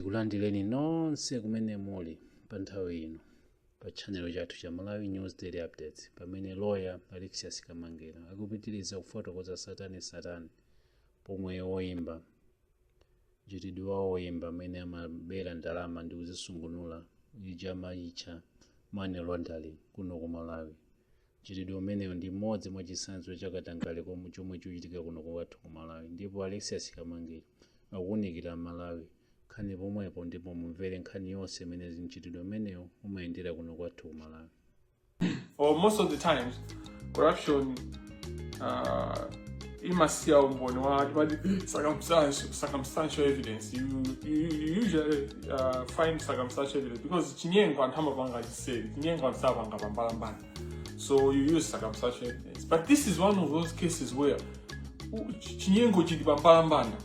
Tikulandireni nonse kumene muli pa nthawi ino pa tchanelo chathu cha Malawi News Daily Updates pamene loya Alexious Kamangila akupitiriza kufotokoza tsatanetsatane pomwe oyimba mchitidwe wa oyimba amene amabera ndalama ndi kuzisungunula uja amautcha money laundering kuno ku Malawi Mchitidwe umenewu ndi umodzi mwa chitsanzo cha katangale komwe chomwe chikuchitika kuno kwathu ku Malawi ndipo Alexious Kamangila akuwunikira aMalawi nkhani pomwepo ndipo mumvere nkhani yonse imene mchitidwe umenewu umayendera kuno kwathu ku Malawi. or most of the times corruption uh, imasiya umboni wa timati circumstantial, circumstantial evidence you, you, you usually uh, find circumstantial evidence because chinyengo anthu amapanga say chinyengo samapanga pambalambanda so you use circumstantial evidence but this is one of those cases where u- chi- chinyengo chili pambalambanda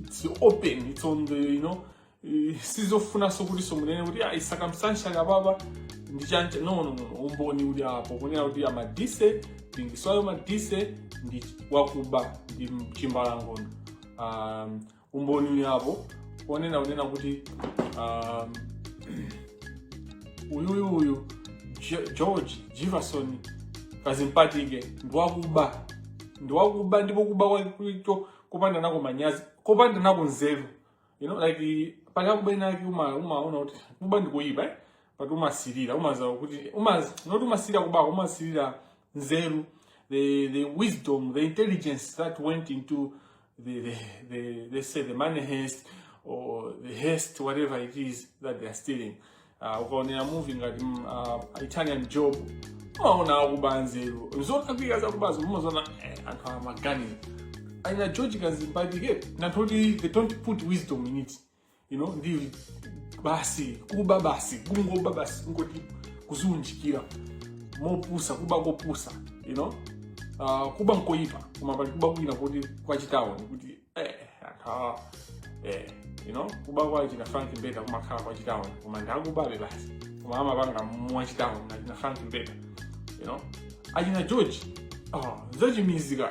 it's open it's on the you know eh, sizofunanso kuti timunene kuti ayi circumstantial apapa ndi chani no no no umboni uli apo kunena kuti a Madise Dingiswayo Madise ndi wakuba ndi chimbalangondo um, umboni uli apo ponena kunena kuti um, uyuyu uyu Jo- george jefferson kazimpatike ndiwakuba ndiwakuba ndipo kuba kwake kopanda nako manyazi kopanda nako nzeru you know like pali kuba kwinakwake uma- umaona kuti kuba ndikuyipa eh? but umasirira umaziwa kuti umaziwa not umasirira kubako umasirira nzeru the, the wisdom the intelligence that went into the, the, the, let's say the money heist or the heist, whatever it is that they are stealing. Uh, ukaonera movie ngati mm, uh, Italian Job umaona akuba nzeru zotakwika zakubazo mumaziona eh, anthu amaganizo aina George Kazimbadike nantoti they don't put wisdom in it you know ndi basi kuba basi kungoba basi kungoti kudziunjikira mopusa kuba kopusa you know uh, kuba nkoyipa koma pali kuba kwina kuti kwachitawoni kuti eh, anthawa eh, you know kuba kwa achina frank mbeta kumakhala kwachitawoni koma ndikubabe basi koma amapanga mwachitawoni achina frank mbeta you know achina george oh, zachimizika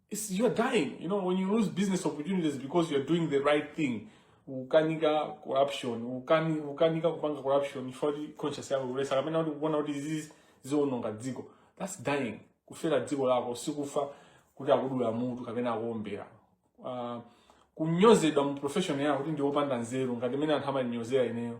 it's, you're dying. You know, when you lose business opportunities because you're doing the right thing, ukukana corruption, ukani, ukanika kupanga corruption, chifukwa choti conscience yako ikukuletsa, kapena kuti ukuona kuti izi ziononga dziko. That's dying. Kufera dziko lako, sikufa kuti akudula mutu kapena akuombera. Uh, kunyozedwa mu profession yako kuti ndiwe opanda nzeru ngati mmene anthu amandinyozera ineyo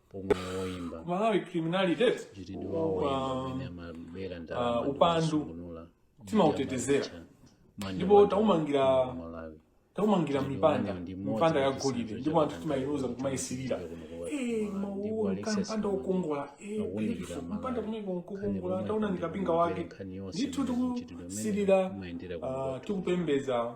Ku Malawi criminality eti? Upa- uh, upandu. Timautetezera. Ndipo taumangira- taumangira mipanda mipanda ya golide ndipo anthufe timayiluza kumayisirira mpanda wokongola mpanda kumene kukongola taona ndikapinga wake ndithu tikusirira ah, tikupembedza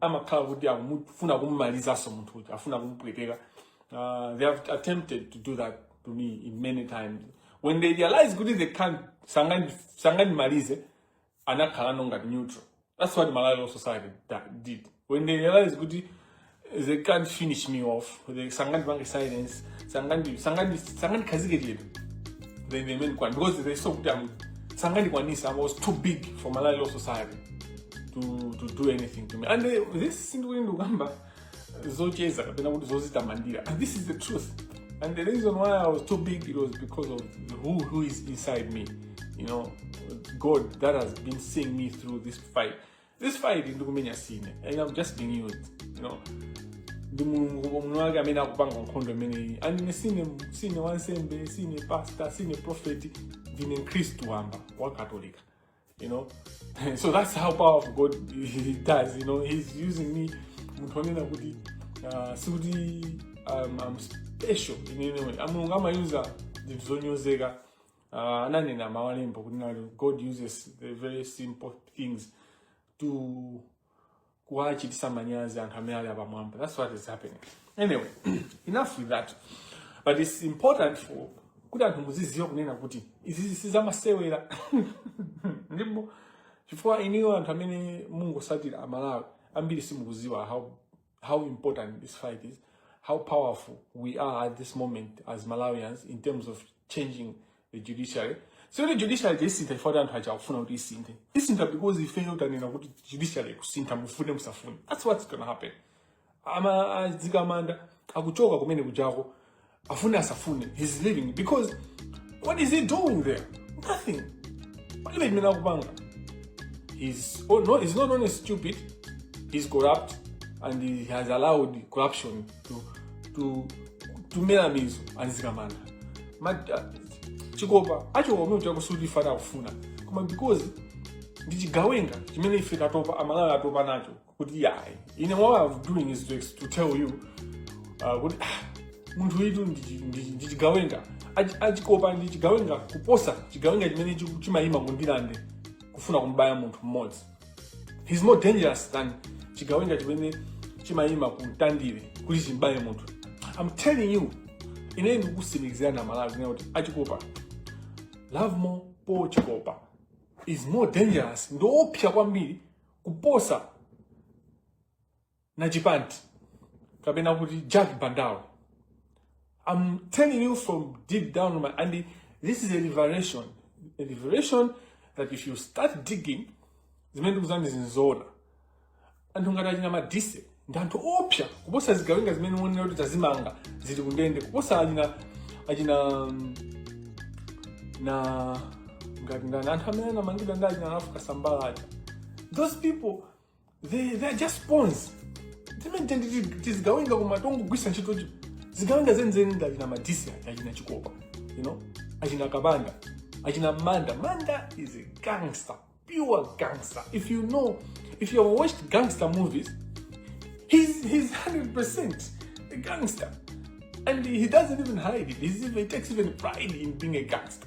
amakhala kuti akufuna kummalizanso munthu uja afuna kumupweteka uh, they have attempted to do that to me in many times when they realize kuti they can't sangani- sangandimalize anakhalano ngati neutral that's what malawi law society da- did when they realize kuti they can't finish me off they sangandipange silence sangandi- sangandi- sangandikhazike chete then they made one because they saw kuti I'm- sangandikwanisa i was too big for malawi law society to, to do anything to me and uh, this sindikuti ndikukamba zocheza kapena kuti zozitamandira and this is the truth and the reason why i was too big it was because of who, who is inside me you know god that has been seeing me through this fight this fight ndikumenya sine and i'm just being used you know ndi mulungu mulungu wake amene akupanga nkhondo imeneyi and ine sine sine wansembe sine pastor sine profeti ndine mkhristu wamba wakatolika You know? so that's how powerful God he does, you know. He's using me munthu onena kuti uh, sikuti um, I'm special in any way. Mulungu amayuza zinthu zonyozeka uh, ananena mawalembo kuti God uses the very simple things to kuwachitisa manyazi anthu amene ali apamwamba that's what is happening anyway enough with that but it's important for kuti anthu muziziwa kunena kuti izizi sizamasewera ndipo chifukwa inuyo anthu amene mungosatira amalawi ambiri simukuziwa how, how important this fight is how powerful we are at this moment as malawians in terms of changing judiciary sikuti judiciary tiyisintha chifukwa anthu aja akufuna kuti isinthe isintha because ifeyo tanena kuti judiciary kusintha mufune musafune that's what's gonna happen a mzikamanda akuchoka kumene kujako afune asafune he's leaving because what is he doing there nothing palibe chimene akupanga he's, oh no, he's not only stupid he's corrupt and he has allowed corruption to to to mera mizu a mzikamanda Mat- ah, chikopa acho omwe chakusuti ifana akufuna koma because ndi chigawenga chimene ife tatopa amalawi atopa nacho kuti yayi ine what I'm doing is to, ex- to tell you uh, kuti ah, munthu uyutu ndi chi- ndi chi- ndi chigawenga Achi- achikopa ndi chigawenga kuposa chigawenga chimene chiku- chimayima ku ndirande kufuna kumbaya munthu mmodzi he's more dangerous than chigawenga chimene chimayima ku mtandire kuti chimbaye munthu i'm telling you ine ndikusimikizirani amalawi kunena kuti achikopa lovemore paul chikopa is more dangerous ndiopsa kwambiri kuposa Najipant, kapena kuti Jack Bandao. I'm telling you from deep down in my and this is a revelation. A revelation that if you start digging, zimene ndikuuzanizi nzoona. Anthu ngati achina Madise ndi anthu oopsa kuposa zigawenga zimene uonera kuti tazimanga zili kundende kuposa achina achina mm, na ngati ndani anthu amene anamangidwa ndi achina Ralph Kasambara aja those people they, they are just pawns timene tizigawenga koma tongogwisa ntchitocho zigawenga zenizeni ndi achina madisi aja achina chikopa you know achina kabanda achina manda manda is a gangster pure gangster if you know if you have watched gangster movies he's, he's 100% a gangster and he doesn't even hide it he's even, he takes even pride in being a gangster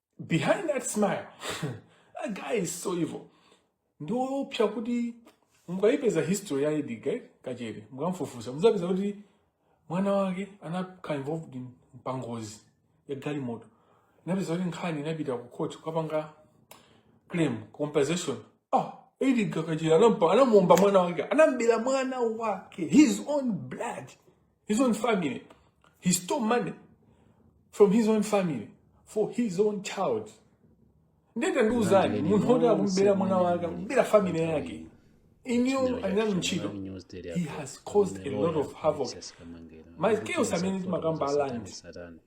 behind that smile that guy is so evil ndi oopsa kuti mukayipeza history ya Edgar Kachere mukamfufuza muzapeza kuti mwana wake anakhala involved in pangozi ya galimoto inapeza kuti nkhani inapita ku court kukapanga claim compensation ah Edgar Kachere anamuomba mwana wake anambera mwana wake his own blood his own family. He stole money from his own family for his own child. Nde tandiuzani munthu woti akumbera mwana wake akumbera family yake inuyo ali nanu ntchito he has caused a lot of havoc ma chaos amene timakamba a land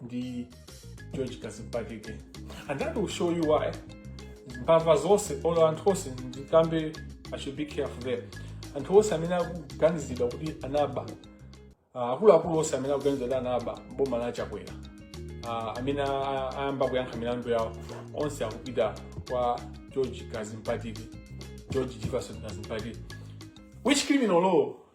ndi George Kadzipatike and that will show you why mbava zonse olo anthu onse ndikambe i should be careful there anthu onse amene akuganizidwa kuti anaba ah, akuluakulu onse amene akuganizidwa kuti anaba m'boma la Chakwera ah, amene a- ayamba kuyankha milandu yawo onse akupita kwa George Kadzipatike George Jivason Kadzipatike which criminal law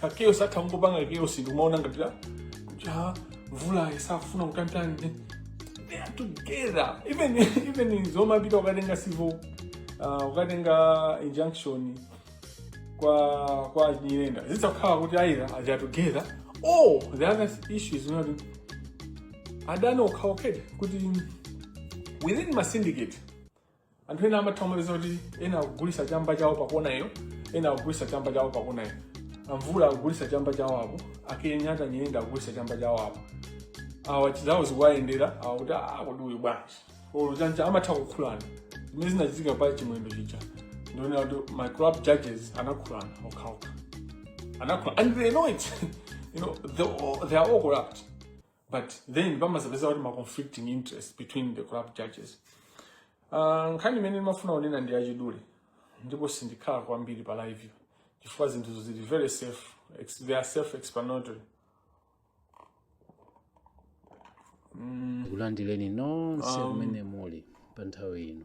ka chaos atha kungopanga chaos ndikumaona ngati ah, kuti a Mvula isafuna kutantani they are together even even zomapita ukatenga civil uh, ukatenga injunction kwa kwa Nyirenda zidzakhala kuti aira they are together or the other issue is not adani okhaokha kuti within ma syndicate anthu ena amatha kumapeza kuti ena akugulisa chamba chawo pakonayo ena akugulisa chamba chawo pakonayo a Mvula akugulisa chamba chawo apo a Kenyatta Nyirenda akugulisa chamba chawo apo awa chizawo zikuwayendera awa kuti "Ah, kodi uyu bwanji olo chancha amatha kukhulana zimene zinachitika pa Chimwendo chija ndionera kuti ma corrupt judges anakhulana okhaokha anakhulana and they know it you know they, all- they are all corrupt but then pamazapeza kuti ma conflicting interest between the corrupt judges uh, nkhani imene ndimafuna kunena ndi yachidule ndipo sindikhala kwambiri pa live chifukwa zinthu zili very self ex- they are self explanatory kulandireni nonse kumene muli pa nthawi ino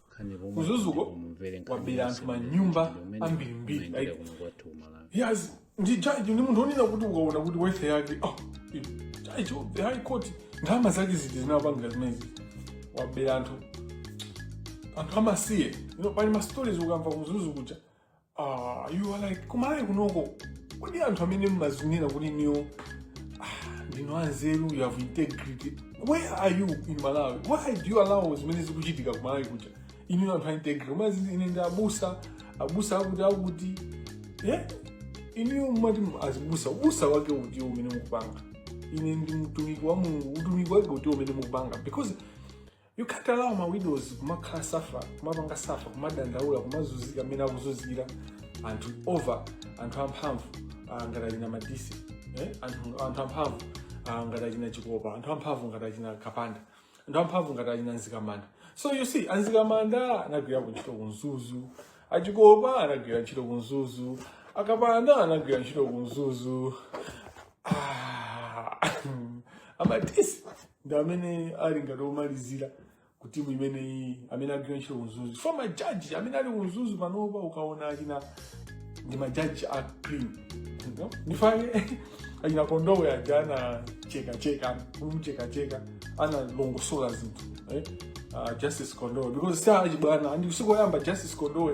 kumzuzuko wabera anthu manyumba ambirimbiri like yes ndi jaji ndi munthu onena kuti ukaona kuti wealth yake oh, jaji of the high court ndalama zake ziti zinapanga zimezi wabera anthu anthu amasiye you know, pali mastories ukamva kumzuzu kuja Ah, you are like kumalawi kunoko kodi anthu amene mmazinena kuti inuyo ah, ndinu anzeru you have integrity where are you in malawi why do you allow zimene zikuchitika kumalawi kuja inu anthu a integrity mumati ine ndi abusa abusa akuti akuti yeah? inu mumati azibusa ubusa wake uti umene mukupanga ine ndi mtumiki wa mulungu utumiki wake uti umene mukupanga because You can't allow ma widows kumakhala suffer kumapanga suffer kumadandaula kumazunzika amene akuzunzira anthu over anthu amphamvu ah, ngati achina madise eh? anthu, anthu amphamvu ah, ngati achina chikopa anthu amphamvu ngati achina kapanda anthu amphamvu ngati achina mzikamanda so you see amzikamanda anagwirako ntchito kumzuzu achikopa anagwira ntchito kumzuzu akapanda anagwira ntchito kumzuzu Ah, amadise ndi amene ali ngati omalizira ku timu imeneyi amene agwira ntchito kumzuzu for majaji amene ali kumzuzu panopa ukaona achina ndi majaji a clean No? ndi chifukwa chake achina kondowe aja anachekacheka kumchekacheka analongosola zinthu eh? uh, justice kondowe because si achibwana and sikoyamba justice kondowe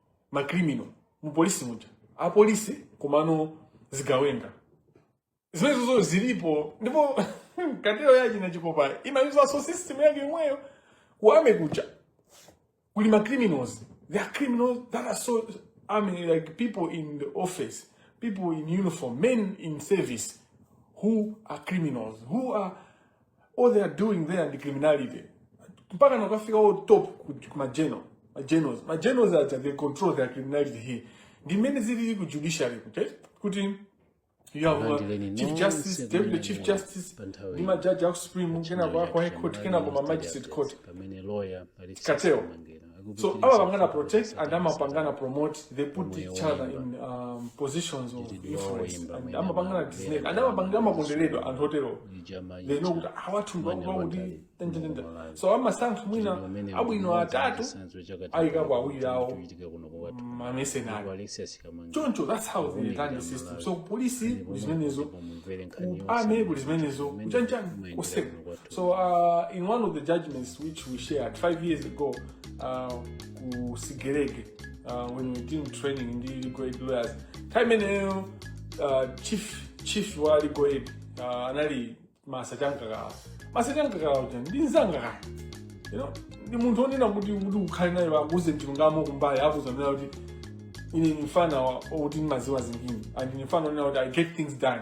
macriminal mu polisi muja apolisi komano zigawenga zimenezozo zilipo ndipo cartel ya achina chikopa imayuzanso system yake yomweyo ku army kuja kuli ma criminals there are criminals that are so I mean, like people in the office people in uniform men in service who are criminals who are all they are doing there ndi criminality mpaka nakafika on top ku- ku mageneral magenerals magenerals aja they control their criminality here ndi mmene zilili ku judiciary kuti kuti you have uh, chief justice deputy chief justice ndi majaji aku supreme kenako aku high court kenako ma magistrate court cartel. so amapangana protect and amapangana promote they put each other in um, positions of influence and amapangana this thing and amapangana amakonderedwa anthu otero they know kuti awathu ndwakuti tendetende so amasankha mwina abwino atatu ayikapo awiri awo mamercenary choncho that's how they run the system so polisi kuli zimenezo ku army kuli zimenezo kuchanchani koseko So uh, in one of the judgments which we shared five years ago uh, ku Sigerege uh, when we did training in the legal aid lawyers, time imeneyo uh, chief chief wa legal aid uh, anali masa chamkakala masa chamkakala uja ndi nzangakala you know ndi munthu onena kuti kuti ukhale naye akuuze chilungamo kumbali akuuza kunena kuti ine ni mfana wa- wokuti ndimaziwa zingini and ni mfana onena kuti i get things done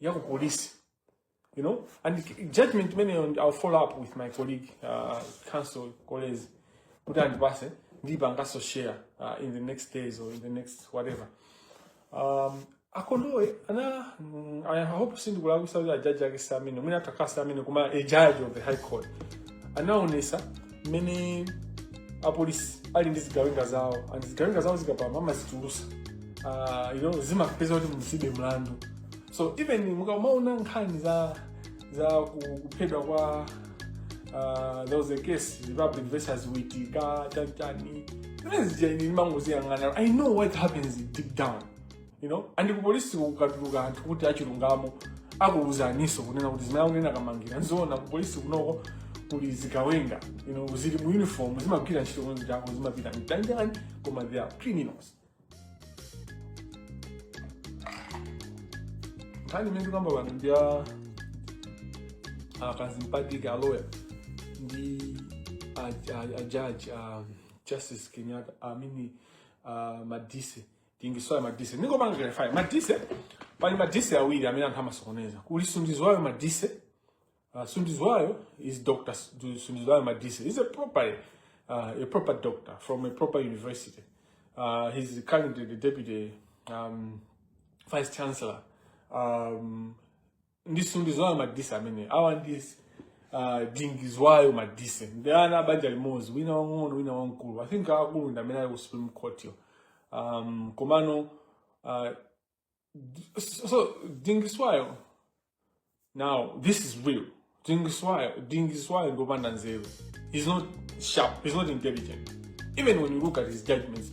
ya ku polisi you know and k- judgment imeneyo ndi- i'll follow up with my colleague uh, counsel colleagues kuti andipase ndipanganso share uh, in the next days or in the next whatever um, akondowe ana mm, i hope sindikulakwisa kuti ajaji ake samene mwina atha kukhala samene koma a judge of the high court anaonesa mmene apolisi ali ndi zigawenga zawo and zigawenga zawo zikapama amazitulusa uh, you know, zimapeza kuti musibe mlandu so even mukamaona nkhani za za ku- kuphedwa kwa uh, there was a case republic versus witika chanichani zimene zija ine ndimangoziyang'ana i know what happens deep down you know and kupolisi kukatuluka anthu kuti achilungamo akuwuzaninso kunena kuti zimene akunena kamangila nzoona kupolisi kunoko kuli zigawenga you know zili mu uniform zimagwira ntchito konzi chako zimapita chanichani koma they are criminals nkhani imene tikamba pano ndi ya a kadzipatike aloya ndi a- a- a judge a justice kenyatta i mean madise tingisoya madise ndingopanga clarify madise pali madise awiri amene anthu amasokoneza kuli sundizwayo madise uh, sundizwayo is doctor Su- sundizwayo madise is a proper uh, a proper doctor from a proper university uh, he's currently the deputy um, vice chancellor um, ndi sunduzwayo madise amene awa ndi uh, dingiswayo madise ndi ana a banja limodzi wina wang'ono wina wamkulu i think akulu ndi amene ali ku supreme court yo um, komano uh, so so dingiswayo now this is real dingiswayo dingiswayo ndi opanda nzeru he's not sharp he's not intelligent even when you look at his judgments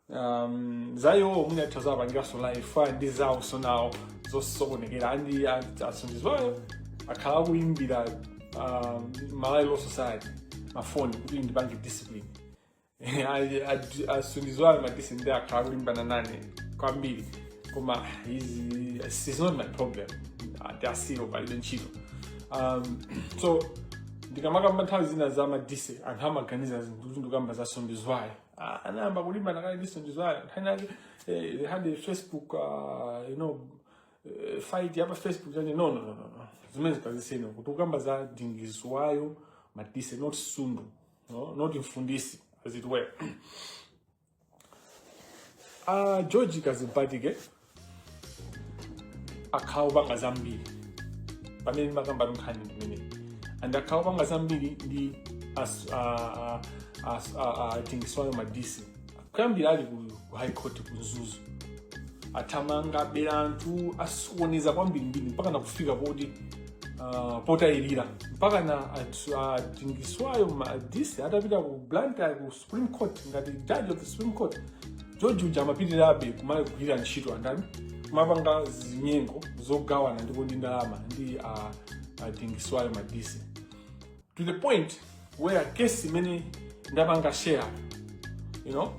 um, za iwowo mwina tizapangiranso live ndi zawonso nawo zosokonekera and a sunduzwayo akhala akuyimbira um, malawi law society mafoni kuti andipange discipline a sunduzwayo madise ndi akhala akulimbana nane kwambiri koma he's not my problem tiwasiye palibe ntchito um, so ndikamakamba nthawi zina za madise anthu amaganiza zinthu kuti ndikamba za sunduzwayo Ah, anayamba kulimbana kale ndi sunduzwayo nkhani yake eh, they had a facebook uh, you know eh, fight yapa facebook chani no no no no no zimenezi kazisiyeni tikukamba za dingiswayo madise not sundu no? not mfundisi as it were uh, george kadzipatike akhala opanga zambiri pamene ndimakamba nkhani imeneyi and akhala opanga zambiri ndi as- a- a- as- a- a- a dingiswayo madise kuyambira ali ku ku high court ku mzuzu athamanga abera anthu asokoneza kwambirimbiri mpaka nakufika poti ah, potayirira mpaka na a dingiswayo madise atapita ku blantyre ku supreme court ngati judge of the supreme court george uja amapitirirabe kumagwira ntchito andani kumapanga zinyengo zogawana ndipo ndi ndalama ndi a dingiswayo madise to the point where case imene ndapanga share you know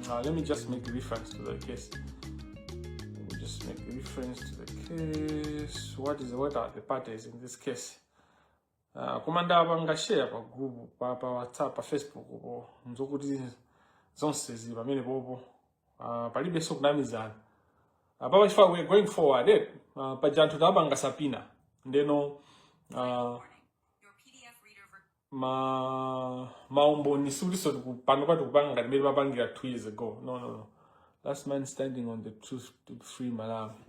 uh, let me just make reference to the case let me just make reference to the case what is what are the parties in this case Uh, koma ndapanga share pa group pa, pa whatsapp pa facebook po nzokuti zonse zili pamenepopo uh, palibenso kunamizana apapa chifukwa we going forward eh, uh, paja anthu tapanga subpoena ndeno uh, ma maumboni sikutinso panopa tikupanga ngati mmene timapangira two years ago no no no last man standing on the truth to free malawi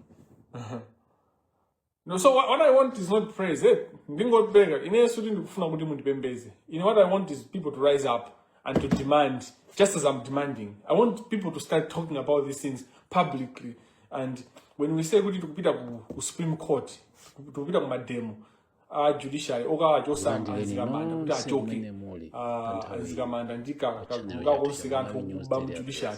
No, so what, what I want is not praise. Eh? Ndingotipeka. Ine sikuti ndikufuna kuti mundipembeze. Ine what I want is people to rise up and to demand, just as I'm demanding. I want people to start talking about these things publicly. And when we say kuti tikupita ku, ku Supreme Court, tikupita ku mademo, a judiciary okawachosa a Mzikamanda kuti achoke a Mzikamanda ndi ka- kagulu kakonse ka anthu okuba mu judiciary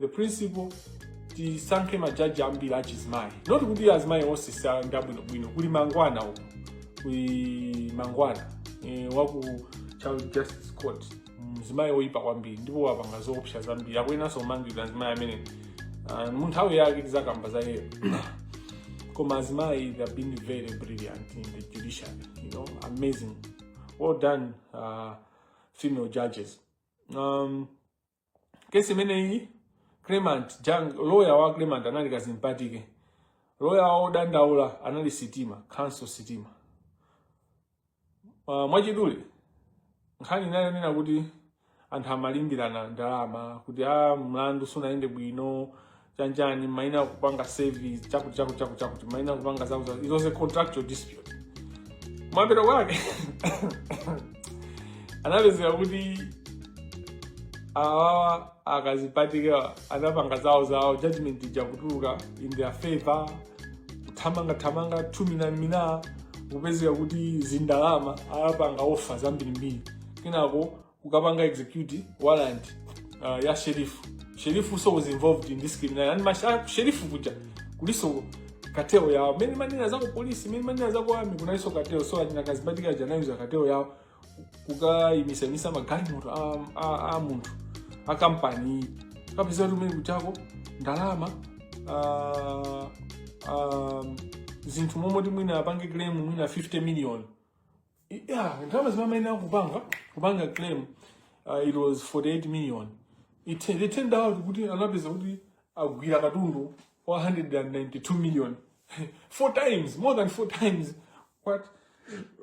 the principle tisankhe majaji ambiri achizimayi not kuti azimayi onsenso ndi abwinobwino kuli mangwana uku kuli mangwana e, waku child justice court mzimayi oyipa kwambiri ndipo wapanga zoopsa zambiri akuyenanso kumangidwa mzimayi amene uh, munthawi yake tizakamba za iyeyo koma azimayi they have been very brilliant in the judiciary you know amazing well done uh, female judges um, case imeneyi claimant uja lawyer wa claimant anali Kadzipatike lawyer wa odandaula anali Sitima Counsel Sitima uh, mwachidule nkhani inali yonena kuti anthu amalimbirana ndalama kuti a ah, mlandu sunayende bwino chanjani amayenera kupanga service chakuti chakuti chakuti chakuti amayenera kupanga zao za it was a contractual dispute kumapeto kwake anapezeka kuti awawa a kadzipatikewa anapanga zawo zawo judgment ija kutuluka in their favor kuthamanga thamanga thumina mina kupezeka kuti zindalama anapanga offer zambirimbiri kenako kukapanga execute warrant uh, ya sheriff sheriff also was involved in this criminal and masha sheriff kuja kuliso kateo yao many manina zako polisi many manina zako ami kunaliso kateo so ajina kazibatika ajana yuza kateo yao kuka imisa imisa magari moto a, a, a muntu a company kapisa rumene kuchako ndalama uh, um, zinthu momwe timwina apange claim mwina 50 million yeah ndalama zimene amayenera kupanga kupanga claim uh, it was 48 million it, they turned out kuti anapeza kuti agwira katundu 192 million four times more than four times what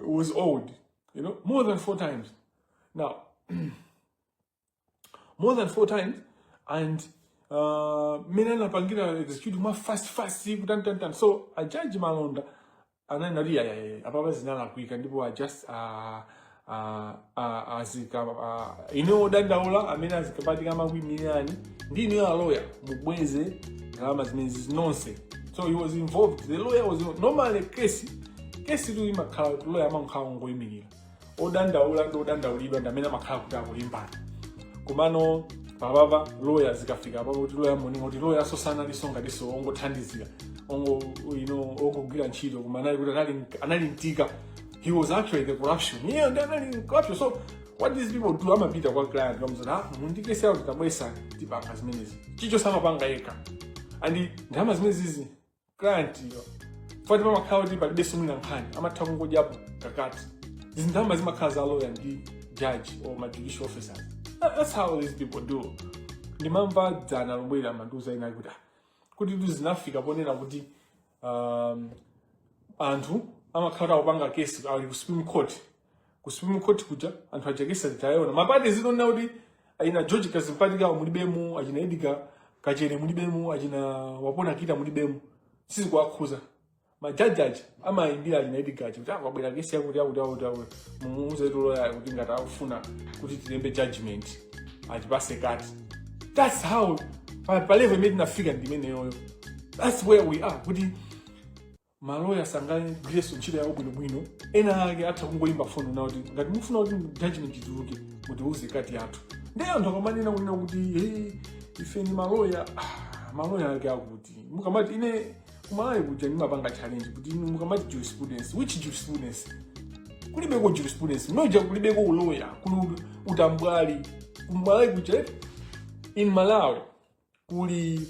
was owed you know more than four times now more than four times and uh, mmene anapangira execute mwa fast fast kutantantan so a judge malonda ananena kuti ayayaye apapa zinalakwika ndipo a just uh, uh, uh, azika uh, inu odandaula amene a Kadzipatike amakuimirani ndi inuyo aloya mubweze ndalama zimenezi nonse so he was involved the lawyer was normally case case tu imakhala kuti lawyer amankhala ongoimirira odandaula ndi odandaulidwa ndi amene amakhala kuti akulimbana komano apapa loya zikafika apa kuti loya mwina kuti loyayo sanalinso ngatinso ongothandizira ongo you know ongogwira ntchito koma anali kuti anali anali mtima he was actually the corruption yeah ndi anali corruption so what these people do amapita kwa client kukamuuza ah mundikese kuti tabwesa tipanga zimenezi chifukwa samapanga yekha and ndalama zimenezi client yo nthawi zoti pamakhala kuti palibe so mwina nkhani amatha kungodyapo ka cut zindalama zimakhala za lawyer ndi judge or ma judicial officer That- that's how these people do ndimamva dzana lomweli amandiuza ena kuti "Ah, kuti tu zinafika ponena kuti um, anthu amakhala akupanga kesi ali ku supreme court ku Supreme Court kuja anthu achekesa ataona ma parties nkuona kuti achina George Kadzipatike mulibemo achina Edgar Kachere mulibemo achina Wapona Kita mulibemo sizikuwakhudza majaji aja amayimbira achina Edgar aja kuti ah kwabwera kesi yakuti yakuti yakuti yakuti mumuuze loyayo kuti ngati akufuna kuti tilembe judgment atipatse cut that's how pa pa level imene tinafika ndimeneyoyo that's where we are kuti maloya sangagwirenso ntchito yawo bwinobwino ena ake atha kungoyimba foni nawo kuti ngati mufuna kuti judgment ituluke mutiwuze cut yathu ndiye anthu akamanena kunena kuti hey, ife ndi maloya ah, maloya ake akuti mukamati ine kuMalawi kuja ndimapanga challenge kuti inu mukamati jurisprudence which jurisprudence kulibeko jurisprudence kuja kulibeko uloya kuli utambwali kuMalawi kuja in malawi kuli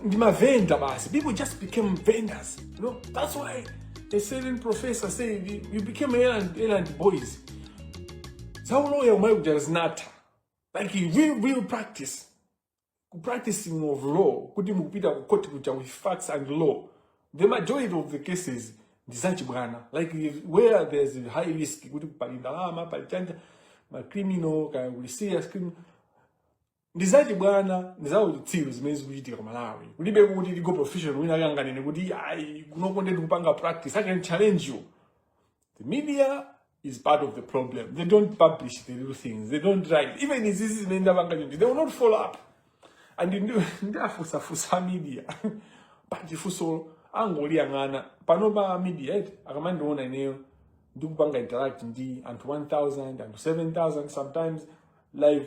ndi mavenda basi people just became vendors you know that's why a certain professor said you, you became errand, errand boys zauloya kuMalawi kuja zinatha like you real, real practice ku practicing of law kuti mukupita ku court kuja with facts and law the majority of the cases ndi zachibwana like if- where there's a high risk kuti pali ndalama pali chani ma criminal kaya kuli serious criminal ndi zachibwana ndi zauchitsiru zimene zikuchitika ku malawi kulibe kuti legal professional wina ake anganene kuti ayi kunoko nde tikupanga practice i can challenge you the media is part of the problem they don't publish the real things they don't write even izizi zimene ndapanga chonchi they will not follow up and ndi- ndafunsafunsa media but funso angoliyang'ana pano pa media eti akamandiona ineyo ndikupanga interact ndi anthu 1000 anthu 7000 sometimes live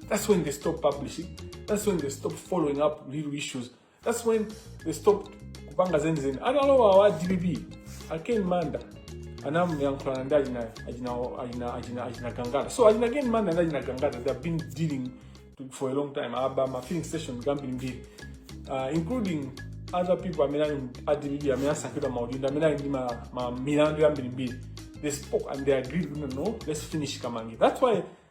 That's when they stop publishing. That's when they stop following up real issues. That's when they stop kupanga zenizeni. Analowa a DPP, a Ken Manda, anayankhulana ndi achina Gangata. So achina a Ken Manda ndi achina Gangata, they have been dealing to, for a long time. Aba ma filling station ambirimbiri, uh, including other people amene ali a DPP amene asankhidwa maudindo amene ali ndi ma, ma milandu yambirimbiri. They spoke and they agreed, no, no, let's finish Kamangila. That's why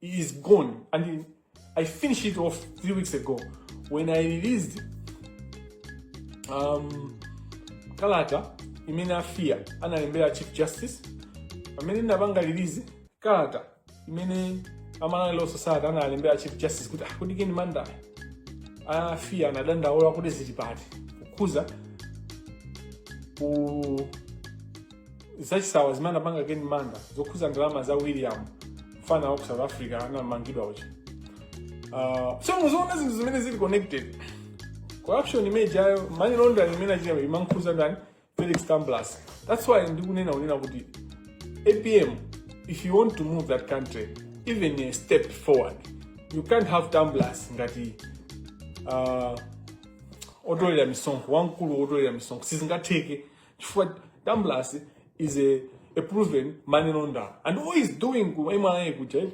is gone. And I finished it off three weeks ago when I released um, kalata imene a fia analembera chief justice pamene ndinapanga release kalata imene a malawi law society analembera chief justice kuti ah, kuti ken manda a fia anadandaula kuti zili pati kukhuza ku zachisawawa zimene anapanga ken manda zokhuza ndalama za william mfana wa ku south africa anamangidwa uja uh, so muziona zinthu zimene zili connected corruption imene ijayo money laundering imene achita imankhuza ndani felix tambulasi that's why ndikunena kunena kuti apm if you want to move that country even a step forward you can't have tambulasi ngati uh, otolera misonkho wamkulu otolera misonkho sizingatheke chifukwa tambulasi is a, a proven money launderer and all he's doing ku mra kuja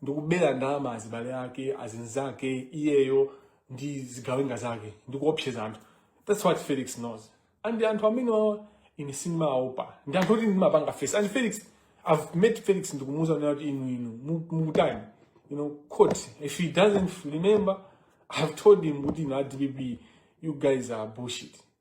ndikubera ndalama azibale ake azinzake iyeyo ndi zigawenga zake ndikuopseza anthu that's what felix knows and anthu amenewawa ine sindimaopa ndi anthu oti ndimapanga face and felix i've met felix ndikumuuza kunena kuti inu inu mu- mukutani you know court if he doesn't remember i've told him kuti inu a dpp you guys are bullshit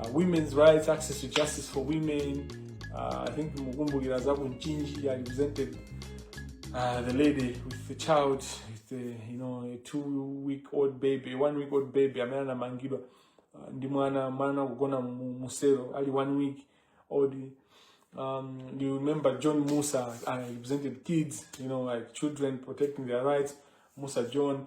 uh, women's rights access to justice for women uh, i think mukumbukira za kunchinji i represented uh, the lady with the child with the, you know a two week old baby a one week old baby amene anamangidwa uh, ndi mwana mwana akugona mu- muselo ali one week old um, you remember John Musa, I represented kids, you know, like children protecting their rights. Musa John,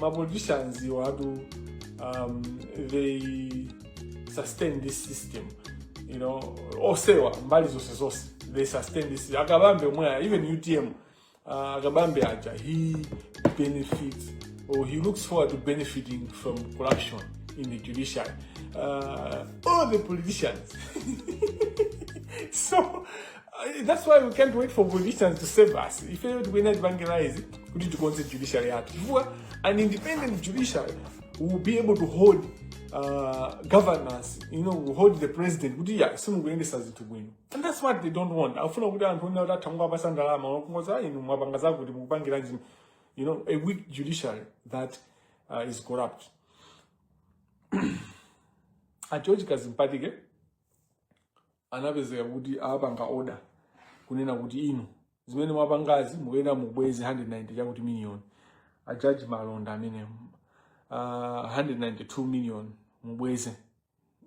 ma politicians iwo atu um, they sustain this system you know osewa mbali zonse zonse they sustain this system. akabambe omweya even utm uh, akabambe aja he benefits or he looks forward to benefiting from corruption in the judiciary uh, all the politicians so Uh, that's why we can't wait for politicians to save us ifeyo tikuyenera tipange realize kuti tikonze judiciary yathu chifukwa an independent judiciary will be able to hold uh, governance you know will hold the president kuti ya simukuyendesa zinthu bwino and that's what they don't want afuna kuti anthu onena kuti atha mukapasa ndalama wakungoza inu mwapanga zakuti mukupangiranji you know a weak judiciary that uh, is corrupt a george kadzipatike anapezeka kuti apanga order kunena kuti inu zimene mwapangazi mukuyenera mubweze 190 chakuti million a judge malonda amene uh, 192 million mubweze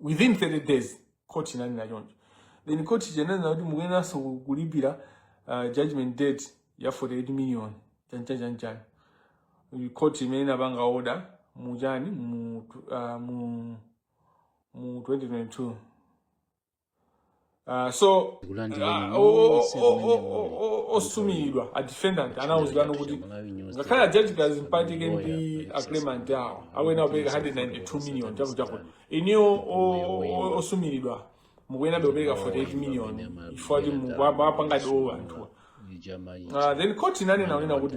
within 30 days court inanena choncho then court inanena kuti mukuyenanso kulipira uh, judgment debt ya 48 million chanchanchanchan court imene inapanga order muchani mu, uh, mu mu 2022 uh, so kulandira uh, o- o- nonse o- kumene o- muli o- osumilidwa a defendant anauzidwano kuti ngakhale a george kadzipatike ndi a client awo akuyenera kupereka 192 million chapo chapo inuyo o- o- osumilidwa mukuyenabe kupereka 48 million chifukwa kuti mukuwapangadi owe anthuwa ijama Uh, then court inanena kunena kuti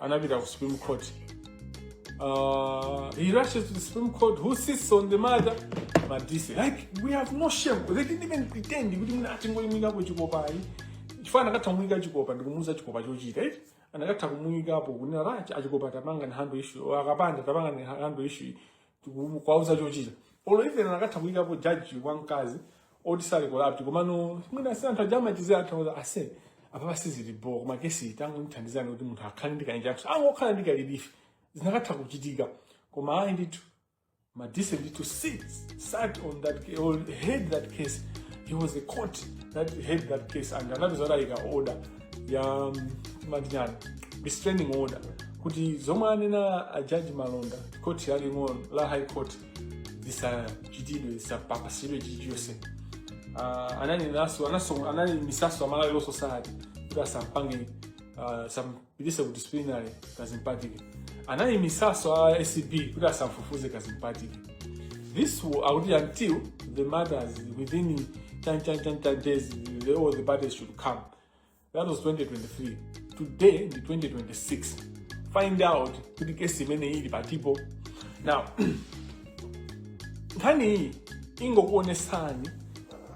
anapita ku supreme court uh, he rushes to the supreme court who sits on the matter but this like we have no shame they didn't even pretend kuti mwina tingomuyikapo chikopa ayi chifukwa anakatha kumuyika chikopa ndikumuuza chikopa chochita eti anakatha kumuyikapo kunena rachi a chikopa tapangani handle issue a kapanda tapangani handle issue tiku- kwauza chochita or even anakatha kuyikapo jaji wamkazi oti sali corrupt komano mwina si anthu aja amachizira anthu auza ase apapa sizilipo koma kesi tangondithandizani kuti munthu akhale ndi ka injunction angokhala ndi ka relief zinakatha kuchitika koma ayi ndithu madise sit sat on that ca- or heard that case he was a court that heard that case and anapeza kuti ayika order ya amati chani restraining order kuti zomwe anena a jaji malonda khoti laling'ono la high court zisachitidwe zisapapasidwe chilichonse uh, ananenanso anaso- anaimitsanso a malawi law society kuti asampange uh, asampititse ku disciplinary kadzipatike anaimitsanso a acb kuti asamfufuze kadzipatike this will akuti until the matters within chan chan chan chan days the, all the parties should come that was 2023 today ndi 2026 find out kuti kesi imene ili patipo now nkhani iyi ingokuonesani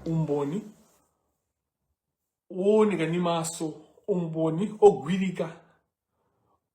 umboni wooneka ndi maso umboni ogwirika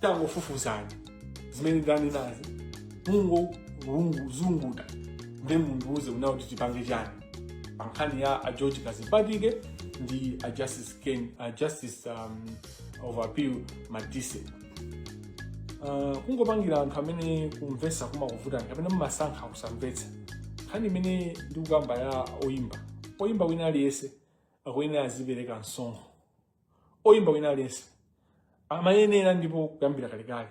tangofufuzani zimene ndanenazi mungozunguta nde mundiuze kunena kuti tipange chani pa nkhani ya a george kadzipatike ndi a justice, Ken, a justice um, of appeal madise uh, kungopangira anthu amene kumvesa kumakuvutani kapena mumasankha kusamvetsa nkhani imene ndikukamba ya oyimba oyimba wina aliyense akuyenera azipereka msonkho oyimba wina aliyense amayenera ndipo kuyambira kalekale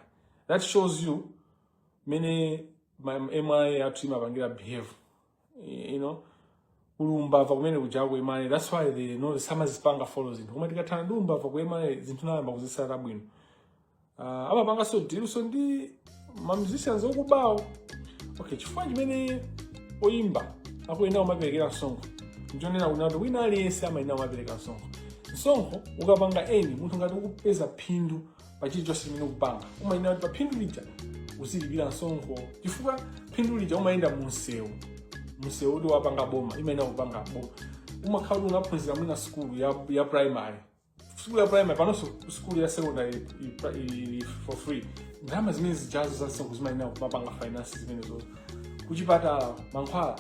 that shows you mmene ma- MRA athu imapangira behave you know kuli umbava kumene kujako ku MRA that's why they know samazipanga follow zinthu koma tikathana ndi umbava ku MRA zinthu tiyamba kuzitsata bwino uh, ah, amapanganso ma deals ndi ma musicians okubawo okay chifukwa chimene oyimba akuyenera kumaperekera msonkho ndi chonena kunena kuti wina aliyense amayenera kumapereka msonkho msonkho ukapanga eni munthu ngati ukupeza phindu pa chilichonse chimene ukupanga umayenera kuti pa phindu lija uzilipira msonkho chifukwa phindu lija umayenda mu msewu msewu kuti wapanga boma imayenera kupanga boma umakhala kuti unaphunzira mwina sukulu ya, ya primary sukulu ya primary panonso sukulu ya secondary ili for free ndalama zimene zijazo za msonkho zimayenera kumapanga finance zimenezo kuchipatala mankhwala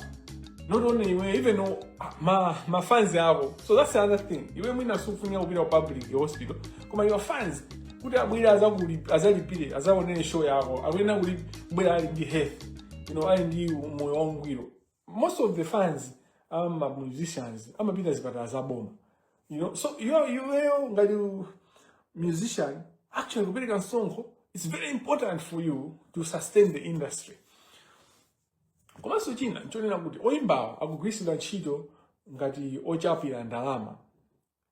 not only iwe even uh, ma- ma fans ako so that's another thing iwe mwina sufunika kupita ku public hospital koma your fans kuti abwere azakuli- azalipire azaonere show yako akuyenera kubwera ali ndi health you know ali ndi moyo wangwiro most of the fans a ma musicians amapita zipatala za boma you know so iwe iweyo ngati u- musician actually kupereka msonkho it's very important for you to sustain the industry komanso china nchonena kuti oyimbawa akugwiritsidwa ntchito ngati ochapira ndalama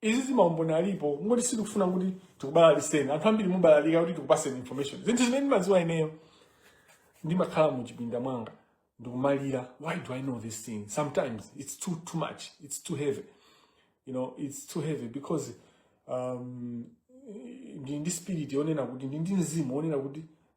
izi maumboni alipo kungoti sitikufuna kuti tikubalaliseni anthu ambiri mubalalika kuti tikupaseni information zinthu zimene ndimaziwa ineyo ndimakhala mu chipinda mwanga ndikumalira why do i know this thing sometimes it's too too much it's too heavy you know it's too heavy because um, ndi ndi spirit yonena kuti ndi ndi mzimu wonena kuti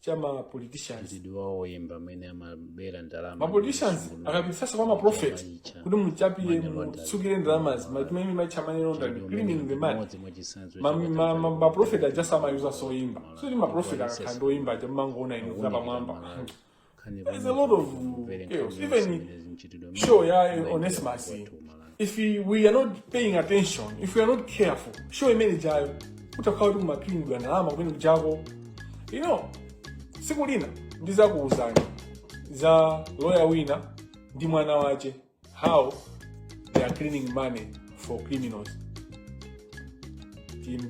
cha ma politicians mchitidwe wawo woyimba amene amabera ndalama ma politicians akapititsa kwa ma prophet kuti muchapire mutsukire ndalamazi amati timatcha money laundering cleaning the money Ma- ma- ma- ma prophet aja nso amayuza oyimba so ndi ma prophet akakhala ndi oyimba aja mmangoona inu za pamwamba There's a lot of chaos. Even show ya Onesimus if we are not paying attention if we are not careful show imene ijayo kutakhala kuti kumaklinidwa ndalama kumene kujako you know tsiku lina ndizakuwuzani za loya wina ndi mwana wache how they are cleaning money for criminals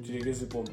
tilekeze pompo